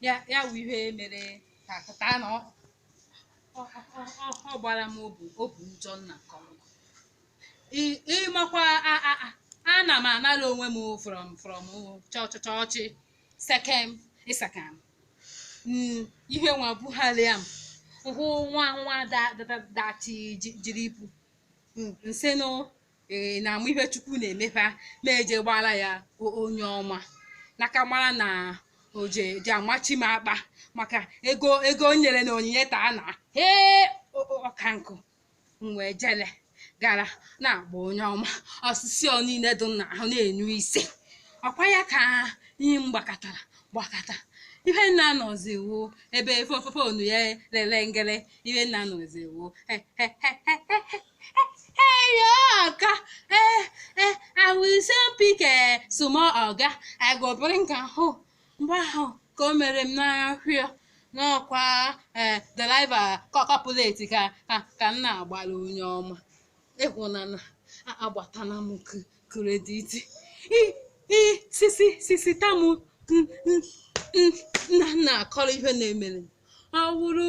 ya ya wụ ihe mere ka pụta na ọ ọ- ọ- ọ- ọ gbara m obu obu njọ nna nke ọma Ị- ịmakwa a- a- a- ana m anara onwe m from from chọ- chọ- chọchị sekem ịsakam Mm, ihe nwa bugharịa m hụ nwa nwa da- da- da- dachi ji- jiri ibu Mm, nsị nụ ee na amụ ihe chukwu na-emere m eje gbaara ya onye ọma n'aka mara na oje ji amachi m akpa maka ego ego o nyere na onyinye taa na ee ọka nkụ m wee jele gara na-agba onye ọma ọsụsị ọ niile dị na ahụ na-enyu ise ọkwa ya ka ihe m gbakọtara gbakọta ihe nna nọzi wo ebe fofonu ya lele ngele ihe nna nọzi wo Hey, Oga, eh, eh, I will soon pick a small Oga. I go bring am home. Mgbe ahụ ka o mere m n'ahịa n'ọkwa eh, deliver complete ka ka ka m na-agbara onye ọma. Ịhụnana a- agbatana m k- credit. I i sisi sisi tamu nna nna akọrọ ihe na-emere m. Ọ wụrụ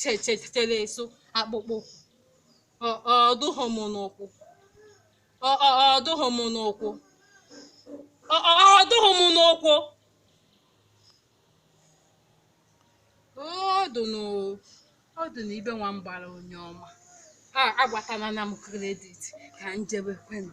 che- chetere eso akpụkpọ Ọ- ọ dụghị m n'ụkwụ Ọ- ọ- ọ dụghị m n'ụkwụ Ọ- ọ- ọ dụghị m n'ụkwụ ọ dị n'o- ọ dị na ibe nwa m gbara onye ọma a agbatala na m credit ka m jebe kwenu